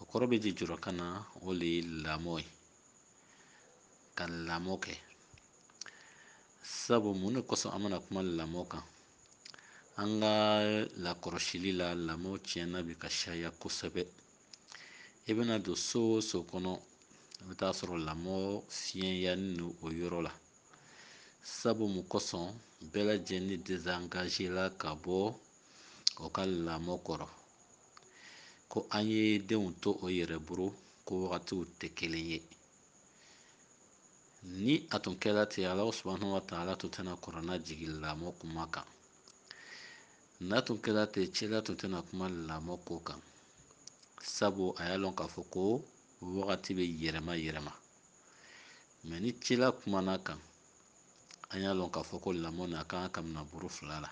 o kɔrɔ bɛ ji jɔrɔ ka na o le ye lamɔ ye ka lamɔ kɛ sabu mun de kosɔn an bɛna kuma lamɔ kan an ka lakɔlɔsili la lamɔ tiɲɛna bi ka siyaya kosɛbɛ i bɛna don so o so kɔnɔ i bɛ taa sɔrɔ lamɔ fiɲɛyanin don o yɔrɔ la sabu mun kosɔn bɛɛ lajɛlen dezangazela ka bɔ o ka lamɔ kɔrɔ ko an ye denw to o yɛrɛ bolo ko wagatiw tɛ kelen ye ni a tun kɛra ten alahu subahanahu wa taala tun tɛna kurana jigin lamɔ kuma kan n'a tun kɛra ten cila tun tɛna kuma lamɔ ko kan sabu a y'a lɔn k'a fɔ ko wagati bɛ yɛlɛma yɛlɛma mɛ ni cila kumana kan an y'a lɔn k'a fɔ ko lamɔ nin a kan ka mina bolo fila la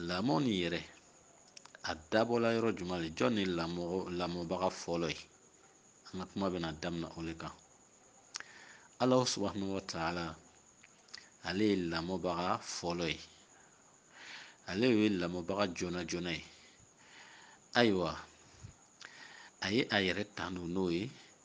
lamɔ nin yɛrɛ a dabɔla yɔrɔ jumɛn de jɔn ni lamɔbaga fɔlɔ ye an ka kuma bɛna daminɛ o le kan alahu subahanahu wa taala ale ye lamɔbaga fɔlɔ ye ale ye lamɔbaga joona joona ye ayiwa a ye a yɛrɛ tanu n'o ye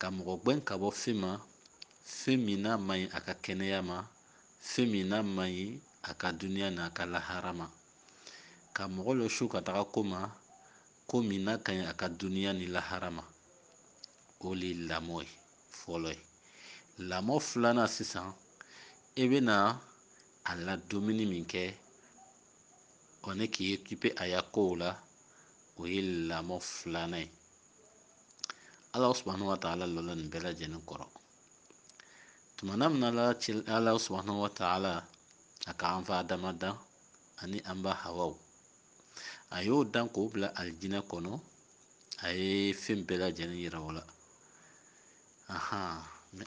ka mɔgɔ gwɛn ka bɔ fen ma, fen min n'a man ɲi a ka kɛnɛya ma, fen min n'a man ɲi a ka duniya n'a ka lahara ma, ka mɔgɔ lɔsu ka taga ko ma, ko min n'a ka ɲi a ka duniya ni lahara ma. O le ye lamɔ ye fɔlɔ ye. Lamɔ filanan sisan, e bɛna a ladomini min kɛ o ni k'i okipe a ya kow la, o ye lamɔ filanan ye. alahu subahanahu wa taala lɔla nin bɛɛ lajɛlen kɔrɔ tuma na min ala subahana wa taala a ka an fa adama dan ani an ba hawa a y'o dan k'o bila alijinɛ kɔnɔ a ye fɛn bɛɛ lajɛlen yira o la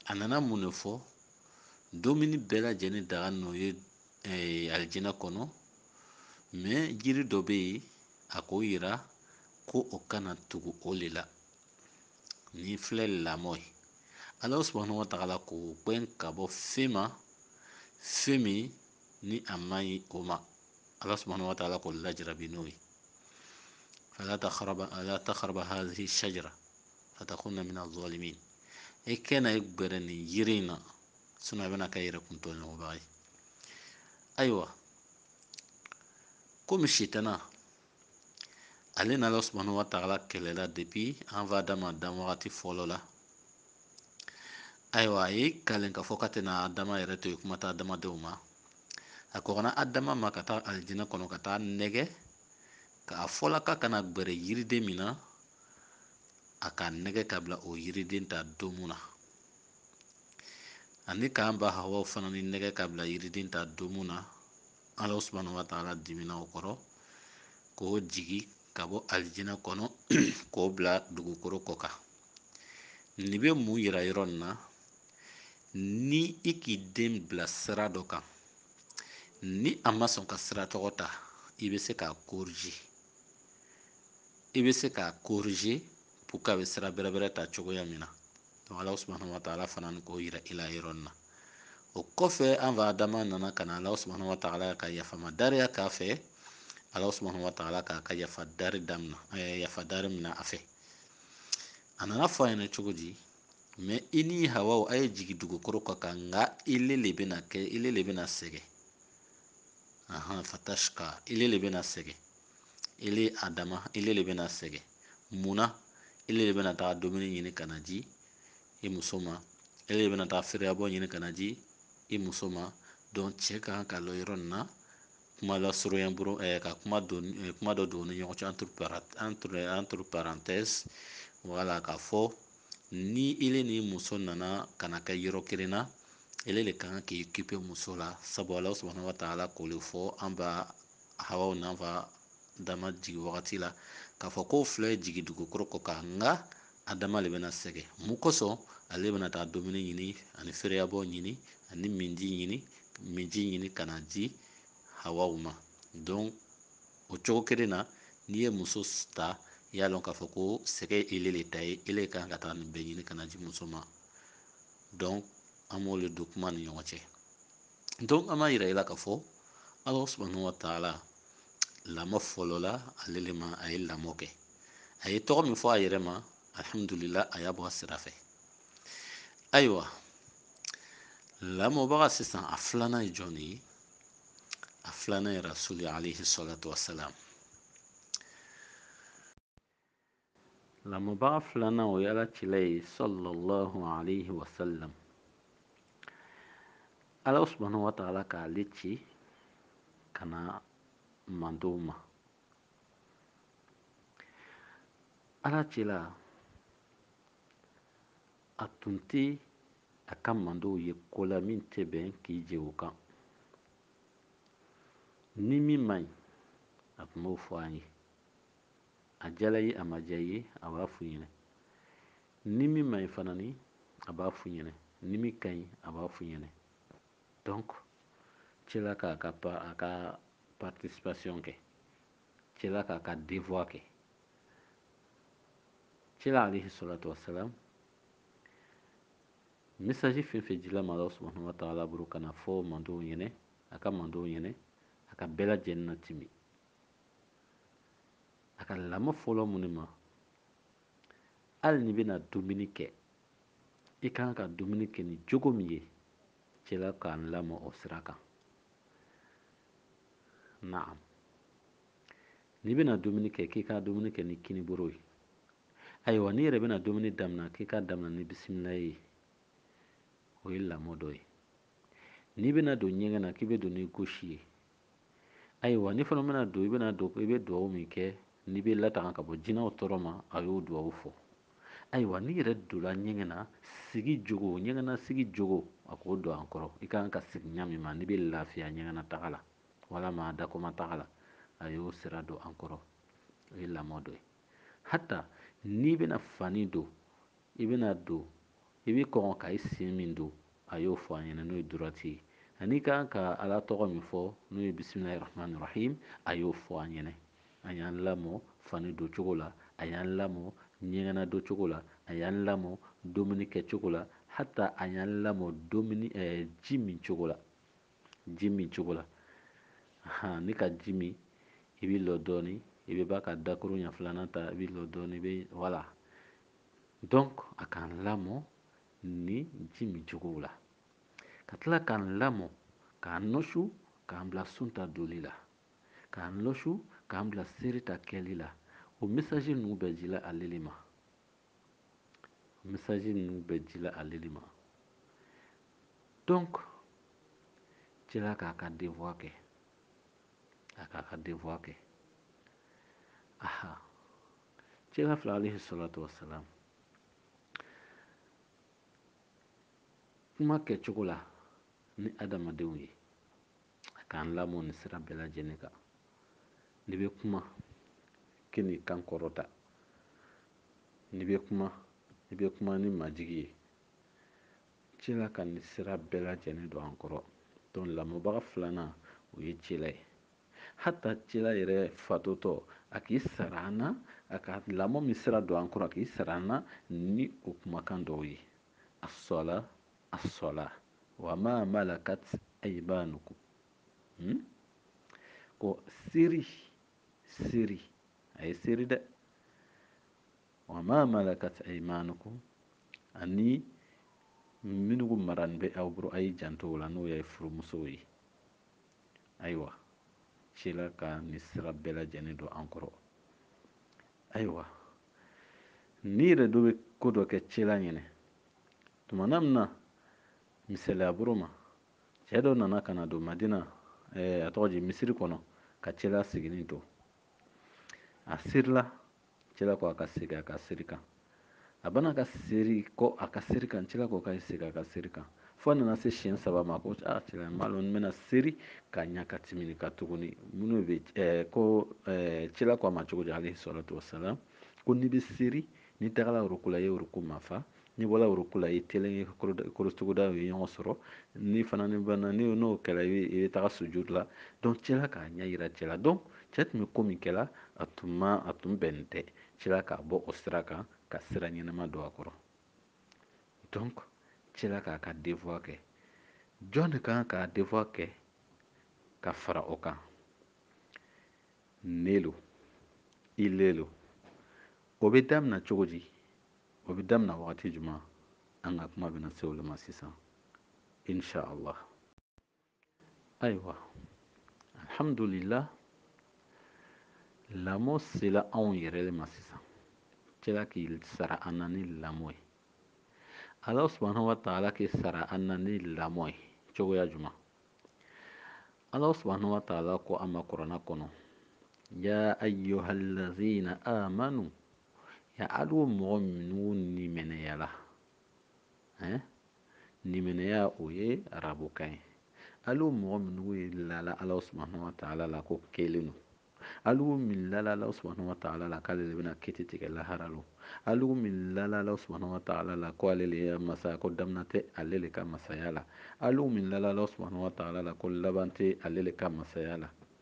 a nana mun de fɔ dumuni bɛɛ lajɛlen daga n'o ye alijinɛ kɔnɔ mɛ jiri dɔ bɛ yen a k'o yira ko o kana tugu o le la nin filɛ lamɔ ye ala subahana wa taala k'o gwɛn ka bɔ fɛn ma fɛn min ni a man ɲi o ma ala subahana wa taala k'o lajarabi n'o ye fala takharaba wala takharaba hazihi shajara fatakuna mina zalimin e kana i gbɛrɛ nin yiri in na sinɔn a bɛna kɛ yɛrɛkun tɔɲɔbaga ye ayiwa komi sitana ale na ala subahanahu wa taala kɛlɛla depuis an fa adama dan wagati fɔlɔ la ayiwa a ye kalen k'a fɔ k'a tɛna adama yɛrɛ to yen kuma tɛ adamadenw ma a kɔgɔna adama ma ka taa alijinɛ kɔnɔ ka taa nɛgɛ k'a fɔla k'a kana gbɛrɛ yiriden min na a k'a nɛgɛ k'a bila o yiriden ta domu na ani k'an ba hawaw fana ni nɛgɛ ka bila yiriden ta domu na ala subahana wa taala dimina o kɔrɔ k'o jigi ka bɔ alijinɛ kɔnɔ k'o bila dugukoro kɔ kan nin bɛ mun yira yɔrɔ nin na ni i k'i den bila sira dɔ kan ni a ma sɔn ka sira tɔgɔ ta i bɛ se k'a korije i bɛ se k'a korije pour que a bɛ sira bɛrɛbɛrɛ ta cogoya min na donc ala subahana wataala fana ni k'o yira i la yɔrɔ nin na o kɔfɛ an fa adama nana ka na ala subahana wataala ka yafama dariya k'a fɛ ala subahana wataala k'a ka yafa dari damina eh, yafa dari mina a fɛ a nana fɔ a ɲɛna cogo di mɛ i ni hawaw a ye jigi dugukoro kɔ kan nka ile le bɛna kɛ ile le bɛna sɛgɛ ahan fatashka ile le bɛna sɛgɛ ele adama ile le bɛna sɛgɛn mun na ele le bɛna taa dumuni ɲini ka na di i muso ma ele de bɛna taa feereyabɔ ɲini ka na di i muso ma donc cɛ ka kan ka lɔ yɔrɔ nin na kuma lasurunya boro ɛɛ eh, ka kuma don eh, kuma dɔ don ni ɲɔgɔn cɛ entre entre entre parenthèse wala k'a fɔ ni ele ni muso nana ka na kɛ yɔrɔ kelen na ele le ka kan k'i kipe muso la sabu ala subahana wa taala k'o le fɔ an ba hawaw n'an fa adama jigi wagati la k'a fɔ k'o fila ye jigi dugukoro kɔ kan nka adama le bɛna sɛgɛ mun kosɔn ale bɛna taa dumuni ɲini ani feereyabɔ ɲini ani minji ɲini minji ɲini ka na di hawaw ma donc o cogo kelen na n'i ye muso ta i y'a lɔn k'a fɔ ko sɛgɛ ye ele le ta ye ele kan ka taa nin bɛɛ ɲini ka na di muso ma donc an b'o le don kuma ni ɲɔgɔn cɛ donc an b'a yira i la k'a fɔ ala subahanahu wa taala lamɔ fɔlɔ la ale le ma a ye lamɔ kɛ a ye tɔgɔ min fɔ a yɛrɛ ma alhamdulila a y'a bɔ a sira fɛ ayiwa lamɔbaga sisan a filanan ye jɔn de ye a filanan ye rasuli alayhi salatu wasalam Lamɔbaga filanan o ye ala cila ye sallallahu alaihi wasallam ala subhanahu wa ta'ala k'ale ci ka na mantɔnw ma ala cila a tun tɛ a ka mantɔnw ye ko la min tɛ bɛn k'i je o kan ni min man ɲi a tun b'o fɔ an ye a jala ye a ma ja ye a b'a f'u ɲɛna ni min man ɲi fana ni a b'a f'u ɲɛna ni min ka ɲi a b'a f'u ɲɛna donc cila k'a ka a ka participation kɛ cila k'a ka devoir kɛ cila alayhi salatu wasalam message fɛn fɛn dila ma ala subhanahu wa ta'ala bolo ka na fɔ mantɔnw ɲɛna a ka mantɔnw ɲɛna a k'a bɛɛ lajɛlen natimi a ka lamɔ fɔlɔ mun ne ma hali n'i bɛna dumuni kɛ i ka kan ka dumuni kɛ ni jogo min ye cila k'an lamɔ o sira kan naam n'i bɛna dumuni kɛ k'i ka dumuni kɛ ni kiniboro ye ayiwa n'i yɛrɛ bɛna dumuni daminɛ k'i k'a daminɛ ni bisimila ye o ye lamɔ dɔ ye n'i bɛna don ɲɛgɛn na k'i bɛ don ni gauche ye ayiwa n'i fana bɛna don i bɛna don i bɛ dugawu min kɛ n'i bɛ latanga ka bɔ jinɛw tɔɔrɔ ma a y'o dugawu fɔ ayiwa n'i yɛrɛ donla ɲɛgɛn na sigi jogo ɲɛgɛn na sigi jogo a k'o don an kɔrɔ i ka kan ka sigi ɲa min ma n'i bɛ lafiya ɲɛgɛn na taga la walama dakɔma taga la a y'o sira don an kɔrɔ o ye lamɔ dɔ ye hata n'i bɛna fani don I bɛna don, i bɛ kɔn ka i sen min don, a y'o fɔ an ɲɛna n'o ye droite ye, ani i ka kan ka Ala tɔgɔ min fɔ n'o ye bisimilahi rahmani rahim, a y'o fɔ an ɲɛna. A y'an lamɔ fani don cogo la, a y'an lamɔ ɲɛgɛnna don cogo la, a y'an lamɔ domini kɛ cogo la, hata a y'an lamɔ domini eh, ji min cogo la, ji min cogo la. Ahan, n'i ka ji min, i bɛ lɔ dɔɔni, i bɛ ban ka dakuruɲɛ filanan ta, i bɛ lɔ dɔɔni, i bɛ voilà. donc a k'an lamɔ ni ji min cogow la ka tila k'an lamɔ k'an nɔsu k'an bila sun ta doli la k'an nɔsu k'an bila seri ta kɛli la o message ninnu bɛɛ jila ale le ma o message ninnu bɛɛ jila ale le ma donc cila k'a ka devoir kɛ a k'a ka devoir kɛ aha Cila fila alayhi salatu wasalam kuma kɛcogo la ni adamadenw ye a k'an lamɔ nin sira bɛɛ lajɛlen kan n'i bɛ kuma kan'i kan kɔrɔta n'i bɛ kuma i bɛ kuma ni majigi ye cila ka nin sira bɛɛ lajɛlen don an kɔrɔ donc lamɔbaga filanan o ye cila ye Hata cila yɛrɛ fatutɔ, a k'i sara an na, a ka lamɔ min sira don an kɔrɔ, a k'i sara an na ni o kumakan dɔw ye, As-sɔla, as-sɔla, wa ma malakat ayimanukum, hun, ko seri, seri, a ye seri dɛ, wa ma malakat ayimanukum, ani minnu marani bɛ aw bolo a y'i janto o la n'o ye furumusow ye. Ayiwa, cila ka nin sira bɛɛ lajɛlen don an kɔrɔ. Ayiwa, n'i yɛrɛ dɔ bɛ ko dɔ kɛ cila ɲɛna, tuma na min na, misaliya boro ma, cɛ dɔ nana ka na don Madina, eh, a tɔgɔ di Misiri kɔnɔ, ka cila sigini to. A serila Cila ko a ka segin a ka seri kan a banna ka seri kɔ a ka seri kan cila ko ka segin a ka seri kan fo a nana se siɲɛ saba ma ko a cila n m'a lɔn n bɛna seri ka ɲa ka tɛmɛ nin kan tuguni minnu bɛ ɛɛ ko ɛɛ cila ko a ma cogo di alayhi salatu wasalam ko n'i bɛ seri n'i tagala ruku la i ye ruku mafa N'i bɔla ruku la, i telen ye korotugudaw ye ɲɔgɔn sɔrɔ. Ni fana ni banna, ni n'o kɛra i bɛ i bɛ taga sujud la. Donc cila k'a ɲɛ yira cɛ la. Donc cɛ tun bɛ ko min kɛla, a tun ma a tun bɛnnen tɛ. Cila k'a bɔ o sira kan, ka sira ɲɛnama don a kɔrɔ. Donc cila k'a ka devoir kɛ. Jɔn de ka kan k'a devoir kɛ ka fara o kan? Ne lo, ile lo. O bɛ damina cogo di? o bɛ damina wagati jumɛn an ka kuma bɛna se olu ma sisan insha allah ayiwa alhamdulillah lamɔ sela anw yɛrɛ de ma sisan cila k'i sara an na ni lamɔ ye ala subahanahu wa taala k'i sara an na ni lamɔ ye cogoya jumɛn ala subahanahu wa taala ko an ma kurana kɔnɔ ya ayyuhallazina amanu ya alu mɔgɔ minnu limaniyala ɛn limaniya o ye arabukan ye alu mɔgɔ minnu ye lala ala subahana wa taala la ko kelen don alu min lala ala subahana wa taala la k'ale de bɛna kiti tigɛ lahara lo alu min lala ala subahana wa taala la ko ale de ye masa ye ko damina tɛ ale de ka masaya la alu min lala ala subahana wa taala la ko laban tɛ ale de ka masaya la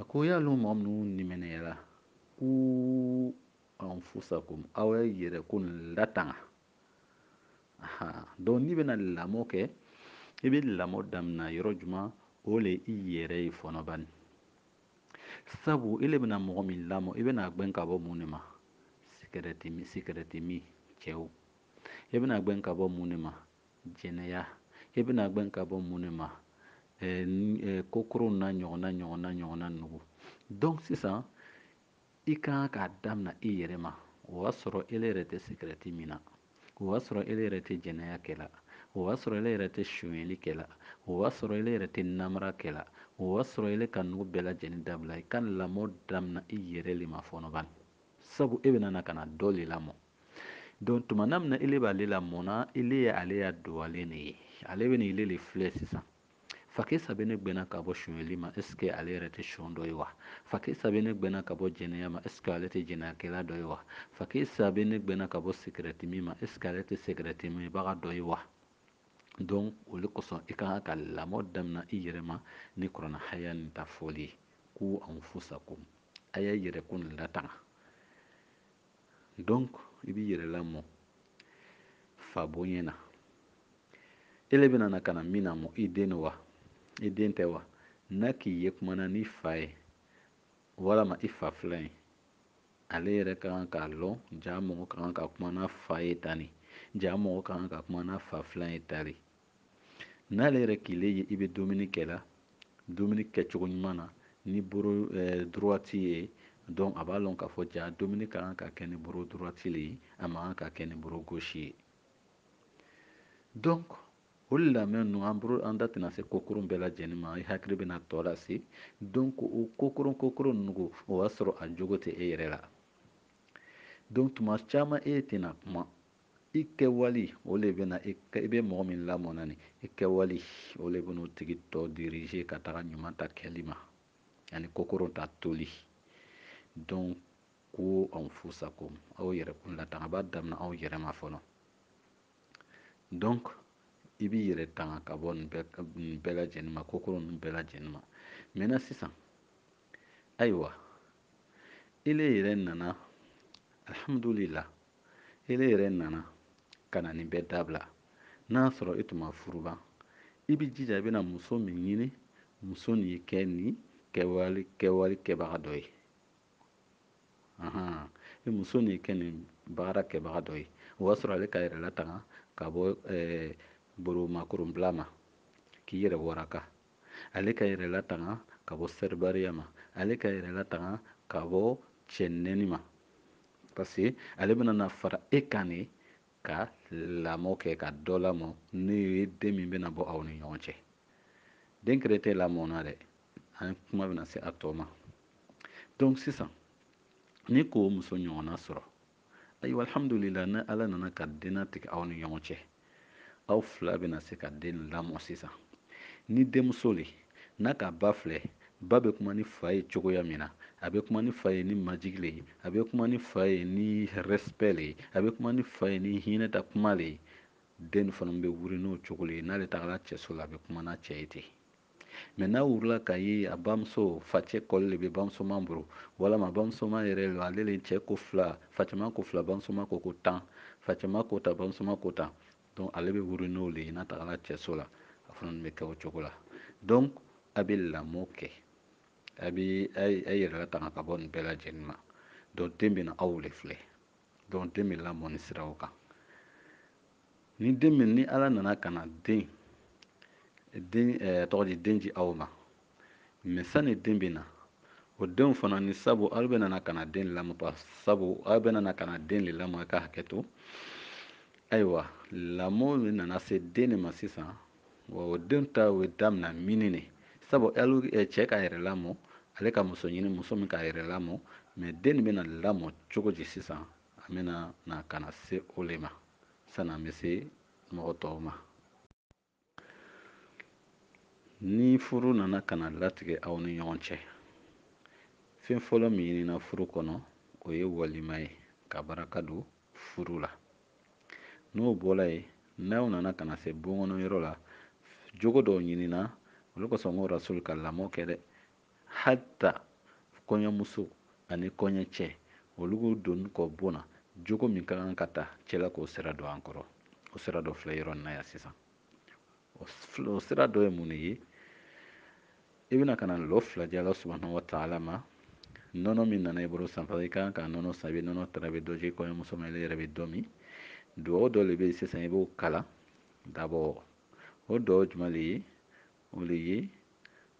A ko y'a lɔn mɔgɔ minnu nimɛnɛyala ku anfusakum aw ye yɛrɛ kun latanga donc n'i bɛna lamɔ kɛ i bɛ lamɔ daminɛ yɔrɔ jumɛn o le i yɛrɛ ye fɔnɔ bani sabu e le bɛna mɔgɔ min lamɔ i bɛna gbɛn ka bɔ mun de ma sikɛrɛti min cɛw e bɛna gbɛn ka bɔ mun de ma Jɛnɛya, e bɛna gbɛn ka bɔ mun de ma? Ɛɛ kokoron n'a ɲɔgɔnna ɲɔgɔnna ɲɔgɔnna nugu. Donc sisan i ka kan k'a damina i yɛrɛ ma o y'a sɔrɔ ele yɛrɛ tɛ sigarɛti minna, o y'a sɔrɔ ele yɛrɛ tɛ jɛnɛya kɛla, o y'a sɔrɔ ele yɛrɛ tɛ sonyɛli kɛla, o y'a sɔrɔ ele yɛrɛ tɛ namara kɛla, o y'a sɔrɔ ele ka nugu bɛɛ lajɛlen dabila. I ka lamɔ damina i yɛrɛ le ma fɔnɔ bani, sabu e bɛna na ka na dɔ le lamɔ. donc tuma na min na ele b'ale lamɔna ele ye ale ya dugalen de ye ale bɛn'ile de filɛ sisan fakɛ sa bɛ ne gbɛnna ka bɔ sonyɛli ma est ce que ale yɛrɛ tɛ son dɔ ye wa fakɛ sa bɛ ne gbɛnna ka bɔ jɛnɛya ma est ce que ale tɛ jɛnɛyakɛla dɔ ye wa fakɛ sa bɛ ne gbɛnna ka bɔ sikirɛti min ma est ce que ale tɛ sikirɛti minbaga dɔ ye wa donc o de kosɔn i ka kan ka lamɔ damina i yɛrɛ ma ni kurana haya nin ta fɔli ye ku anfusakum a y'a yɛrɛ kun latanga donc i b'i yɛrɛ lamɔ fa bonya na e le bɛna na ka na min lamɔ i den lo wa i den tɛ wa n'a k'i ye kumana n'i fa ye walama i fa filan ye ale yɛrɛ ka kan k'a lɔn jaa mɔgɔ ka kan ka kuma n'a fa ye tani jaa mɔgɔ ka kan ka kuma n'a fa filan ye tani n'ale yɛrɛ k'ile ye i bɛ dumuni kɛla dumuni kɛcogo ɲuman na ni boro eh, droite ye donc a b'a lɔn k'a fɔ jaa dumuni ka kan ka kɛ ni boro droite le ye a man kan ka kɛ ni boro gauche ye donc o de lamɛn ninnu an bolo an da tɛna se kokoron bɛɛ lajɛlen ma i hakili bɛna tɔ lase donc o kokoron kokoron ninnu o y'a sɔrɔ a jogo tɛ e yɛrɛ la donc tuma caman e tɛna kuma i kɛwali o le bɛna i bɛ mɔgɔ min lamɔ na ni i kɛwali o le bɛna o tigi tɔ diriger ka taga ɲuman ta kɛli ma ani kokoron ta toli donc ku anfusakum aw yɛrɛkun latanga b'a damina aw yɛrɛ ma fɔlɔ donc i b'i yɛrɛ tanga ka bɔ nin bɛɛ lajɛlen ma kokoron ninnu bɛɛ lajɛlen ma maintenant sisan ayiwa ele yɛrɛ nana alhamdulila e le yɛrɛ nana ka na nin bɛɛ dabila n'a sɔrɔ e tun ma furu ban i b'i jija i bɛna muso min ɲini muso nin ye kɛ nin kɛwale kɛbaga dɔ ye e muso nin ye kɛ nin baara kɛbaga dɔ ye o b'a sɔrɔ ale ka yɛrɛ latanga ka bɔ boromakoronbila ma k'i yɛrɛ waraka ale ka yɛrɛ latanga ka bɔ sɛribariya ma ale ka yɛrɛ latanga ka bɔ cɛ nɛni ma parce que ale bɛna na fara e kan de ka lamɔ kɛ ka dɔ lamɔ n'o ye den min bɛna bɔ aw ni ɲɔgɔn cɛ den kelen tɛ lamɔna dɛ an kuma bɛna se a tɔ ma donc sisan n'i k'o muso ɲɔgɔnna sɔrɔ ayiwa alhamdulila ni ala nana ka den latigɛ aw ni ɲɔgɔn cɛ aw fila bɛna se ka den lamɔ sisan ni denmuso le n'a ka ba filɛ ba bɛ kuma ni fa ye cogoya min na a bɛ kuma ni fa ye ni majigi le ye a bɛ kuma ni fa ye ni respect le ye a bɛ kuma ni fa ye ni hinɛ ta kuma le ye den fana bɛ wuli n'o cogo le ye n'ale tagara cɛso la a bɛ kuma n'a cɛ ye ten Mais n'a wurila k'a ye a bamuso, facɛ, kɔli le bɛ bamusoman boro, walama bamusoman yɛrɛ lo, ale le cɛ ko fila, facɛman ko fila, bamusoman ko tan, facɛman ko tan, bamusoman ko tan, donc ale bɛ wuri n'o le ye n'a tagala cɛso la, a fana bɛ kɛ o cogo la. Donc a bɛ lamɔ kɛ, a bɛ a yɛrɛ latanga ka bɔ nin bɛɛ lajɛlen ma, donc den bɛna aw le filɛ, donc den bɛ lamɔ nin siraw kan. ni den min ni ala nana ka na den den ɛɛ tɔgɔ di den di aw ma mɛ sani den bɛ na o denw fana ni sabu aw bɛna na ka na den lamɔ pa sabu aw bɛna na ka na den de lamɔ ka hakɛ to ayiwa lamɔ min nana se den de ma sisan wa o den ta bɛ damina mini de sabu alu eh, cɛ k'a yɛrɛ lamɔ ale ka muso ɲini muso min k'a yɛrɛ lamɔ mɛ den de bɛna lamɔ cogo di sisan An bɛna na ka na se o le ma sani an bɛ se mɔgɔ tɔw ma ni furu nana ka na latigɛ aw ni ɲɔgɔn cɛ fɛn fɔlɔ min ɲinina furu kɔnɔ o ye walima ye ka baraka don furu la n'o bɔla yen n'aw nana ka na se bon kɔnɔ yɔrɔ la jogo dɔw ɲinina o le kosɔn n ko rasulu ka lamɔ kɛ dɛ Hatta kɔɲɔmuso ani kɔɲɔcɛ, olu k'u donni kɔ bon na jogo min ka kan ka ta cela k'o sira don an kɔrɔ. O sira dɔ filɛ yɔrɔ in na yan sisan. O sira dɔ ye mun de ye? I bɛna ka na lɔ fila di Ala subahana wa taala ma nɔnɔ min nana i bolo sisan parce que i ka kan ka nɔnɔ san i bɛ nɔnɔ tara i bɛ dɔ di kɔɲɔmuso ma i yɛrɛ bɛ dɔ min dugawu dɔ de bɛ yen sisan i b'o kalan d'abord o dugawu jumɛn de ye o de ye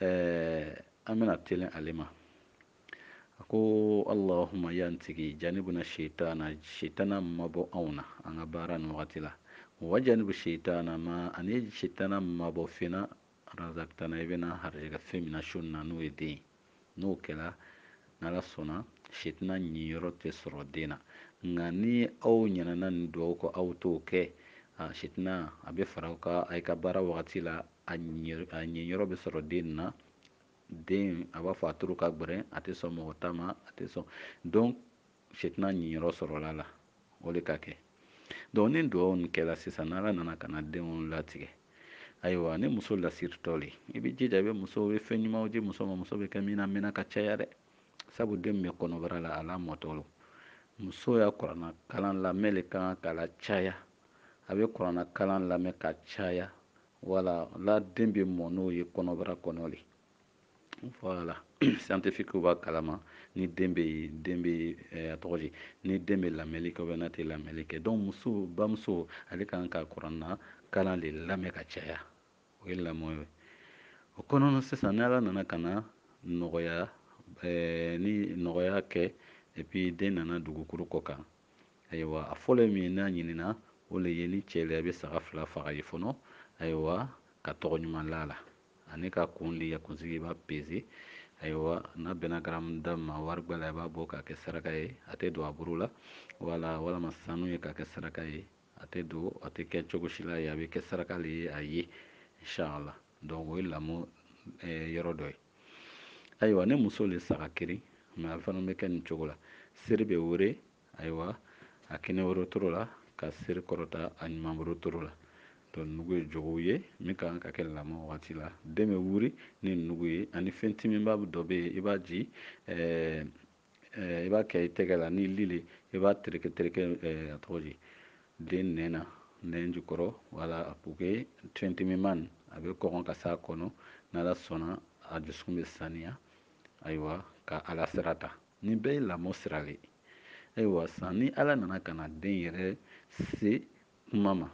an bɛna telen ale ma a ko alahuma e an tigi janibuna sitana sitana mabɔ anw na an ka baara ni wagati la wa janibu sitana ma ani sitana mabɔ fina razakitana i bɛna harijɛgɛ fɛn min na su na n'o ye den ye n'o kɛra n'ala sɔnna sitana ɲiyɔrɔ tɛ sɔrɔ den na nka ni aw ɲinana nin dugawu kɔ aw t'o kɛ sitana a bɛ fara aw kan a ka baara wagati la a ɲiyɔrɔ bɛ sɔrɔ den na den a b'a fɔ a turu ka gbɛrɛn a tɛ sɔn mɔgɔ ta ma a tɛ sɔn donc sitana ɲiyɔrɔ sɔrɔla la o le k'a kɛ donc ni dugawu nin kɛra sisan n'ala nana ka na denw latigɛ ayiwa ni muso lasiritɔ le i bɛ jija i bɛ muso i bɛ fɛn ɲumanw di muso ma muso bɛ kɛ min lamɛnna ka caya dɛ sabu den bɛ kɔnɔbara la a lamɔtɔ lo muso y'a kurana kalan lamɛn le kan k'a lacaya a bɛ kurana kalan lamɛn ka caya wala la den bɛ mɔ n'o ye kɔnɔbara kɔnɔ le voilà scientifique b'a kalama ni den bɛ den bɛ eh, a tɔgɔ di ni den bɛ lamɛnni kɛ n'a tɛ lamɛnni kɛ donc muso bamuso ale ka kan ka kurana kalan de lamɛn ka caya o ye lamɔ ye o kɔnɔna sisan ni ala nana ka na nɔgɔya eh, ni nɔgɔya kɛ et puis den nana dugukolo kɔ kan Ayiwa a fɔlɔ ye min ye n'a ɲinina o le ye ni cɛ le a bɛ saga fila faga ye fɔlɔ ayiwa ka tɔgɔ ɲuman la a la ani k'a kun di a kunsigi i b'a peze ayiwa n'a bɛnna garamu da ma warigbɛ la i b'a bɔ k'a kɛ saraka ye a tɛ don a buru la wala walama sanu ye k'a kɛ saraka ye a tɛ don a tɛ kɛ cogo si la ye a bɛ kɛ saraka le ye a ye inshallah donc o ye lamɔ yɔrɔ dɔ ye ayiwa ni muso le saga keren pe a fana bɛ kɛ nin cogo la seri bɛ were ayiwa a kininboro toro la ka seri kɔrɔta a numanboro toro la donc nugu ye jogow ye min ka kan ka kɛ lamɔ wagati la den bɛ wuri ni nugu ye ani fɛn timiman dɔ bɛ yen i b'a ji ɛɛ i b'a kɛ i tɛgɛ la ni li le i b'a tereke tereke a tɔgɔ di den nɛn na nɛn jukɔrɔ wala pour que fɛn timiman a bɛ kɔgɔn ka s'a kɔnɔ n'ala sɔnna a dusukun bɛ saniya ayiwa ka ala sira ta nin bɛɛ ye lamɔ sira le ayiwa san ni ala nana ka na den yɛrɛ se kuma ma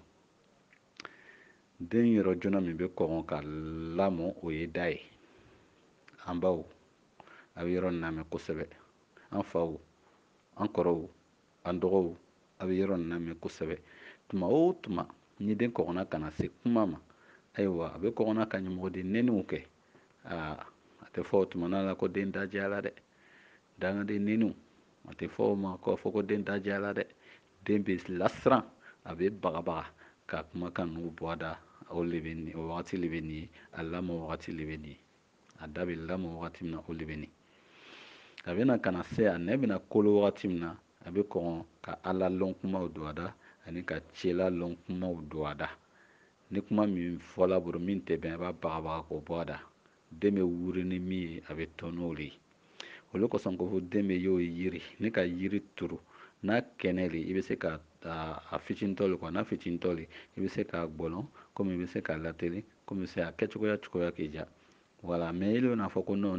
den yɔrɔ joona min bɛ kɔgɔn ka lamɔ o ye da ye an baw a bɛ yɔrɔ nin lamɛn kosɛbɛ an faw an kɔrɔw an dɔgɔw a bɛ yɔrɔ nin lamɛn kosɛbɛ tuma o tuma ni den kɔgɔna ka na se kuma ma ayiwa a bɛ kɔgɔn ka ɲamɔgɔden neniw kɛ aa a tɛ fɔ o tuma na ko den da diyala dɛ dangaden neniw a tɛ fɔ o ma k'a fɔ ko den da diyala dɛ den bɛ lasiran a bɛ bagabaga ka kumakan ninnu bɔ a da o le bɛ nin o wagati le bɛ nin ye a lamɔ wagati le bɛ nin ye a da bɛ lamɔ wagati min na o de bɛ nin a bɛna ka na se a nɛn bɛna kolo wagati min na a bɛ kɔn ka ala lɔn kumaw don a da ani ka cela lɔn kumaw don a da ni kuma min fɔla a bolo min tɛ bɛn a b'a bagabaga k'o bɔ a da den bɛ wuri ni min ye a bɛ to n'o de ye olu kosɔn ko fɔ den bɛ yo yiri n'i ka yiri turu n'a kɛnɛ le i bɛ se ka a fitinitɔ le kuwa n'a fitinitɔ le i bɛ se k'a gbɔlɔn komi i bɛ se k'a latelen komi i bɛ se a kɛcogoya cogoya k'i diya wala mɛ i bɛna fɔ ko nɔn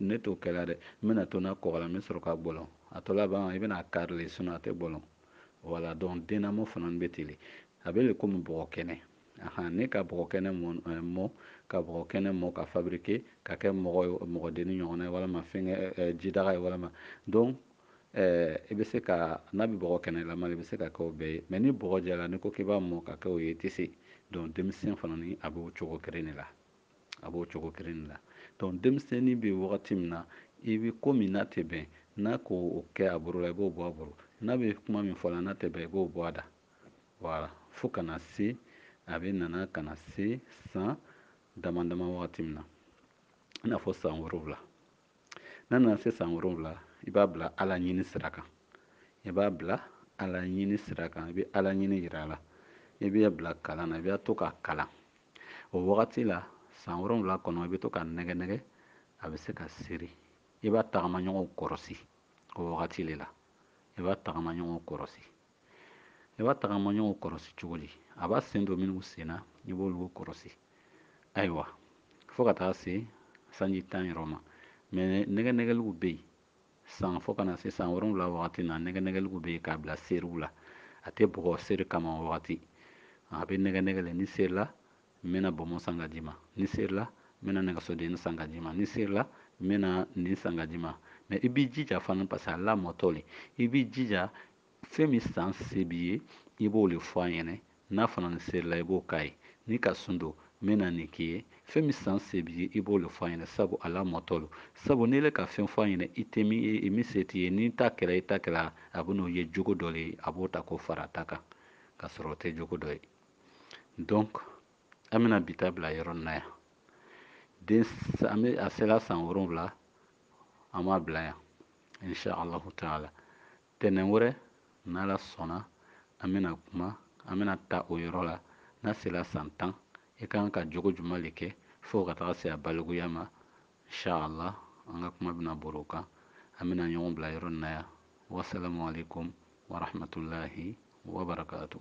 ne t'o kɛla dɛ n bɛna to n'a kɔgɔla n bɛ sɔrɔ k'a gbɔlɔn a tɔ laban i bɛna a kari le sinɔn a tɛ gbɔlɔn wala donc dennamɔ fana bɛ ten le a bɛ le komi bɔgɔ kɛnɛ Ahan, n'i ka bɔgɔ kɛnɛ mɔ, ka bɔgɔ kɛnɛ mɔ ka fabriquer ka kɛ mɔgɔdenni ɲɔgɔnna ye walama fɛnkɛ jidaga ye walama donc i bɛ se ka n'a bɛ bɔgɔ kɛnɛlama i bɛ se ka kɛ o bɛɛ ye mais ni bɔgɔ jala n'i ko k'i b'a mɔ ka kɛ o ye i tɛ se donc denmisɛn fana ni a b'o cogo kelen de la a b'o cogo kelen de la donc denmisɛnnin bɛ wagati min na i bɛ ko min n'a tɛ bɛn n'a k'o kɛ a bolo la i b'o bɔ a bolo n'a bɛ kuma min fɔla n'a tɛ bɛn i b'o bɔ a da Wala fo ka na se a bɛna na ka na se san dama dama wagati min na i n'a fɔ san wolonwula n'a nana se san wolonwula i b'a bila ala ɲini sira kan i b'a bila ala ɲini sira kan i bɛ ala ɲini yira a la i b'a bila kalan na i bɛ to k'a kalan o wagati la san wolonwula kɔnɔ i bɛ to k'a nɛgɛ nɛgɛ a bɛ se ka seri i b'a tagamaɲɔgɔn kɔrɔsi o wagati de la i b'a tagamaɲɔgɔn kɔrɔsi i b'a tagamaɲɔgɔnw kɔrɔsi cogo di a b'a sen don minnu sen na i b'olu kɔrɔsi ayiwa fo ka taa se sanji tan yɔrɔ ma mɛ nɛgɛ nɛgɛliw bɛ yen san fo ka na se san wolonwula wagati na nɛgɛ nɛgɛliw bɛ yen k'a bila seriw la a tɛ bugɔ seri kama o wagati a bɛ nɛgɛ nɛgɛ le n'i serila n bɛna bɔnbɔn san ka d'i ma n'i serila n bɛna nɛgɛsodenni san ka d'i ma n'i serila n bɛna nin san ka d'i ma mɛ i b'i jija fana parce que a lamɔtɔ le i b'i jija fɛn min san se b'i ye i b'o le fɔ a ɲɛna n'a fana n'i serila i b'o k'a ye n'i ka sun don n bɛna nin k'i ye fɛn min san se b'i ye i b'o le fɔ a ɲɛna sabu a lamɔtɔ lo sabu n'i le ka fɛn fɔ a ɲɛna i tɛ min se t'i ye n'i t'a kɛla i t'a kɛla a bɛn'o ye jogo dɔ le ye a b'o ta k'o fara a ta kan k'a sɔrɔ o tɛ jogo dɔ ye donc an bɛna bi ta bila yɔrɔ nin na yan a sela san wolonwula an b'a bila yan insha allahu taala Tɛnɛn wɛrɛ, n'Ala sɔnna, an bɛna kuma, an bɛna ta o yɔrɔ la, n'a sela san tan, i ka kan ka jogo jumɛn le kɛ fo ka taga se a balikuya ma. Ncha Allah, an ka kuma bɛna bori o kan. An bɛna ɲɔgɔn bila yɔrɔ nin na yan. Wasalamu aleyikoum wa rahmatoulahi wa barakaatou.